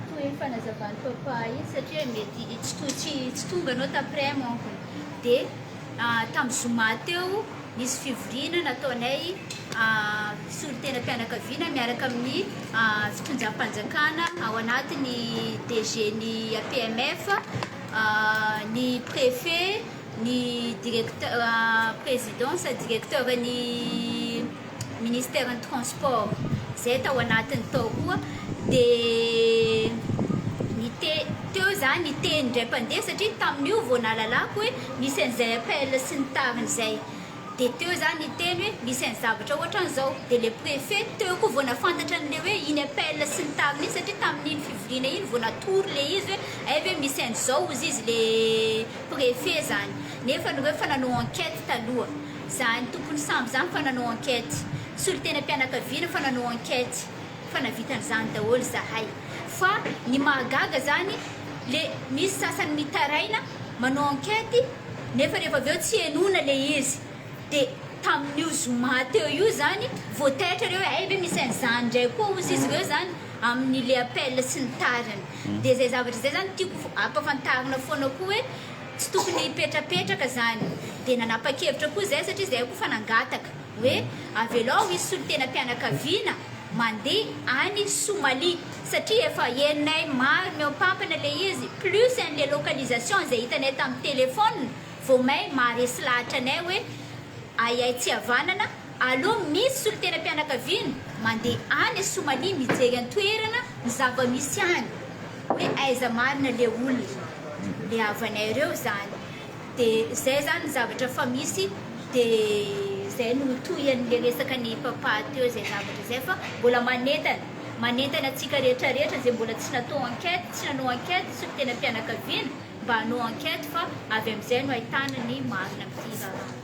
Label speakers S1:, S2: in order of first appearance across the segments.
S1: Toy ny fanazavan'i Papa iny satria mety tsy to- tsy tsy tonga ianao t'après manko e. De tamin'ny zoma teo nisy fivoriana nataonay solontenam-pianakaviana miaraka amin'ny fitondram-panjakana ao anatin'ny DG-n'ny APMF, ny préfet, ny directeur président sady directeur-n'ny. Ministeran'ny Transport izay tao anatiny tao koa dia niteny teo izany niteny indray mpandeha satria tamin'io vao nahalalako hoe misy an'izay appel sy ny tariny izay dia teo izany niteny hoe misy an'ny zavatra ohatran'izao dia ilay préfet teo koa vao nahafantatra an'ilay hoe iny appel sy ny tariny iny satria tamin'iny fivoriana iny vao natory ilay izy hoe hay ve misy an'izao hozy izy ilay préfet izany nefa ireo efa nanao enquête taloha Za ny tompony sambo zany fa nanao enquête, solontenam-pianakaviana fa nanao enquête fa navita an'izany daholo zahay fa ny mahagaga zany le misy sasany mitaraina manao enquête nefa rehefa avy eo tsy henoina le izy de tamin'io zoma teo io zany vao taitra reo hoe hay ve misy an'izany ndray koa ozy izy reo zany amin'ny le appel sy ny tariny de zay zavatra zay zany tiako ampafantarina foana koa hoe Tsy tokony hipetrapetraka izany. Dia nanapa-kevitra koa izahay, satria izahay koa efa nangataka, hoe avelao hisy solontenam-pianakaviana mandeha any Somalia, satria efa henonay maro mihoampampana ilay izy, plus an'ilay localisation izay hitanay tamin'ny téléphone, vao may maharesy lahatra anay hoe ahiahy tsy havanana, aleo misy solontenam-pianakaviana mandeha any Somalia mijery an-toerana ny zava-misy any, hoe aiza marina ilay olona. ny havanay reo zany de zay zany ny zavatra efa misy de zay no tohin'le resaka ny papa teo zay zavatra zay fa mbola manentana manentana antsika rehetra rehetra zay mbola tsy natao enquête tsy nanao enquête sy ny tena fianakaviana mba hanao enquête fa avy am'izay no ahitana ny marina am'ty raharaha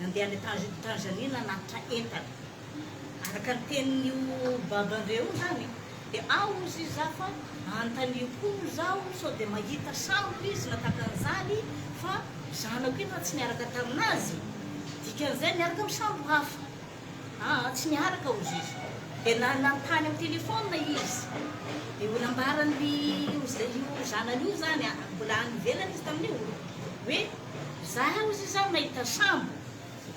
S2: Nandeha any Tanzania nanatitra entana. Araka ny tenin'io Baban'ireo io izany dia ao hozy izy za fa anontanio koa hozy aho sao dia mahita sambo izy na tahaka an'izany fa zanako io na tsy niaraka tamin'azy dikan'izay miaraka amin'ny sambo hafa. Aa tsy miaraka ozizy dia nanontany amin'ny telephone izy dia ho nambaran'ry io zanany io zany a mbola any ivelany izy tamin'io hoe za ozizy zany nahita sambo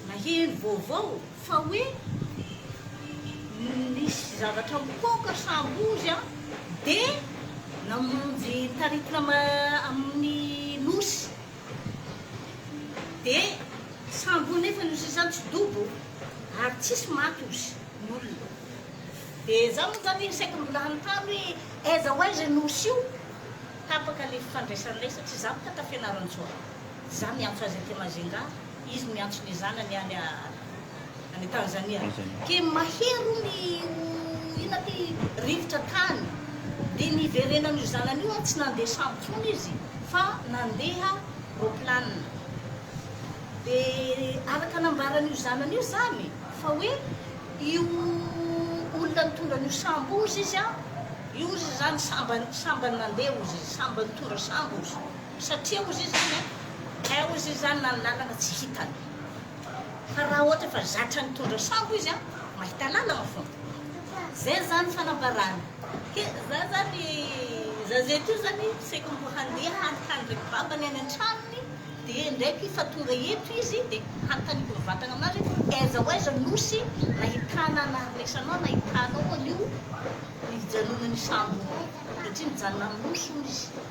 S2: naheno vaovao fa hoe nisy zavatra mipoaka sambo ozy a dia namonjy taritina amin'ny nosy De sambo nefa ny sisa tsy dobo ary tsisy maty ozy ny olona. De za moa zany saika mbola hanontany hoe aiza ho aiza ny osy io? Tapaka le fifandraisanay satria za boka ta Fianarantsoa. Za miantso azy aty Majunga, izy miantso ny zanany any. Any Tanzania. Ke mahery hono i oh inona ty rivotra tany dia niverenan'io zanany io an tsy nandeha sambo tsony izy fa nandeha roplanina. Dia araka nambaran'io zanany io zany fa hoe io olona nitondra an'io sambo ozy izy an io ozy zany sambany sambany nandeha ozy izy sambany nitondra sambo ozy satria ozy izy zany an eh ozy izy zany na ny lalana tsy hitany. Fa raha ohatra efa zatra nitondra sambo izy an, mahita lalana fona. Zay zany fanambarana. Ke za zany za zay teo zany saiko mbo handeha hanontany ndreky babany any antranony de ndreky fa tonga eto izy de hanontaniko mivatagna aminazy hoe aiza ho aiza nosy nahitana ana resanao nahitanao anio nijanonanio sambo io satria nijanona aminy nosy hono izy.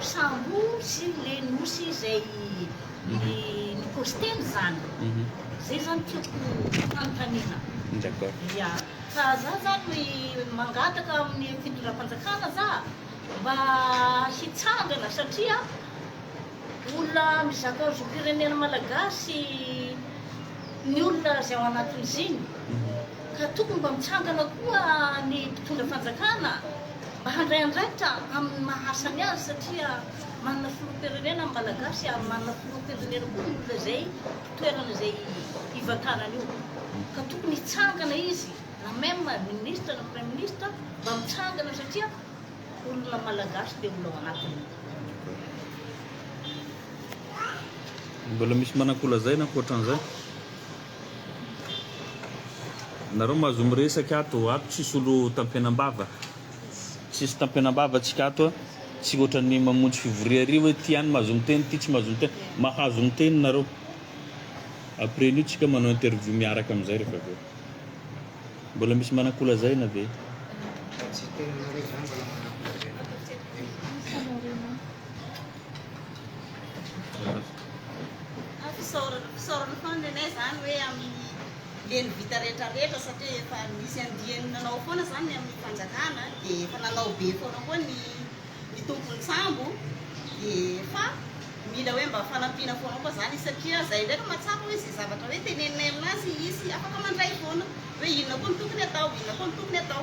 S2: Sambo sy le nosy izay nikostena zany zay zany tiako hanontaniana.
S3: Ia. Ka
S2: za zany mangataka amin'ny fitondram-panjakana za mba hitsangana satria olona mizaka zom-pirenena malagasy ny olona izay ao anatin'iziny ka tokony mba mitsangana koa ny mpitondra fanjakana. Mba handray andraikitra amin'ny maha asany azy satria manana filoham-pirenena ny Malagasy ary manana filoham-pirenena koa ny olona izay toerana izay hivantanany io ka tokony hitsangana izy na même ny ministra na praiminisitra mba mitsangana satria olona Malagasy dia olona ao anatiny.
S3: Mbola misy mananko lazaina ankoatran'izay? Nareo mahazo miresaka ato, ato tsisy olo tampenambava, tsisy tampenambava tsika ato a, tsy ohatran'ny mamonjy fivoria ary hoe ty any mahazo miteny ty tsy mahazo miteny, mahazo miteny nareo, après an'io tsika manao interview miaraka amizay refa avy eo, mbola misy manakolazaina ve?
S4: Fisaorana foana nenay izany hoe amin'ny leny vita rehetra rehetra satria efa misy andiany nanao foana izany ny amin'ny fanjakana dia efa nanao be foana koa ny ny tompon'ny sambo dia efa mila hoe mba fanampiana foana koa izany satria izay ndraika mahatsapa hoe izay zavatra hoe teneninay aminazy izy afaka mandray foana hoe inona koa ny tokony atao, inona koa ny tokony atao.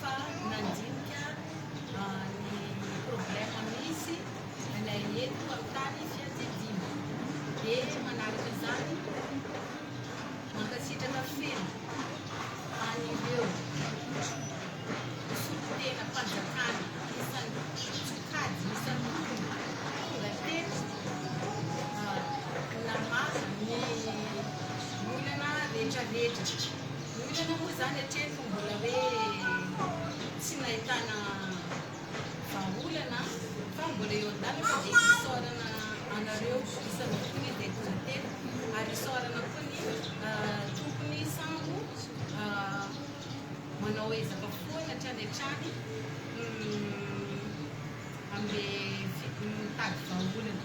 S5: fa nandinika ny problème misy anay eto amin'ny tany fiadidiana dia manaraka izany mankasitraka feno an'ireo mpisotro tena mpanjakana isan'ny sokajy isan'ny tonga teto namaha ny olana rehetrarehetra ny olana moa izany hatreto Mbola hoe tsy nahitana vahaolana fa mbola eo an-dalana dia isaorana anareo isanao koa ny Detonately ary isaorana koa ny tompony sambo manao ezaka foana hatrany hatrany amin'le mitady vahaolana.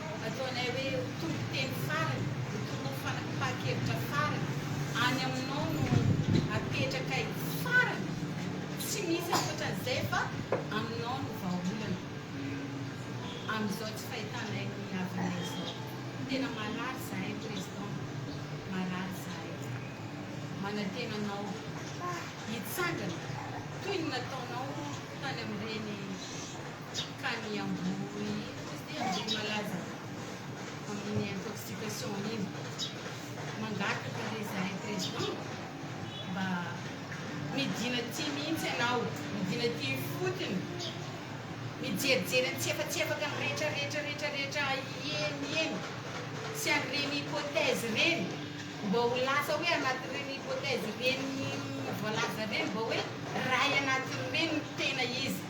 S5: Ataonay hoe toriteny farany, tonoho fanapahan-kevitra farany, any aminao no apetrakay farany, tsy misy ankoatran'izay fa aminao no vahaolana amin'izao tsy fahitanay ny havanay izao. Tena marary zahay Président, marary izahay. Manantena anao hitsangana toy ny nataonao tany amin'ireny. Dikany ambohory izy dia ambohory malaza amin'ny intoxication iny. Mangataka re zahay président mba midina aty mihitsy ianao, midina aty ifotony, mijerijery antsefatsefaka ny retraretra retraretra eny eny sy an'ireny hypothèse ireny mba ho lasa hoe anatin'ireny hypothèse ireny voalaza ireny mba hoe ray anatin'ireny ny tena izy.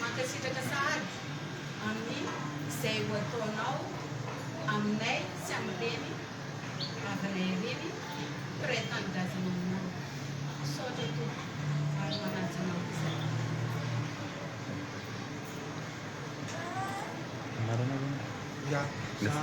S5: Mankasitraka sahady amin'ny izay ho ataonao aminay sy amin'ireny rahavavy-nay ireny mpiray tanindrazana aminao. Misaotra
S6: Tompo ary manaja anao izahay. Anarana ve ny.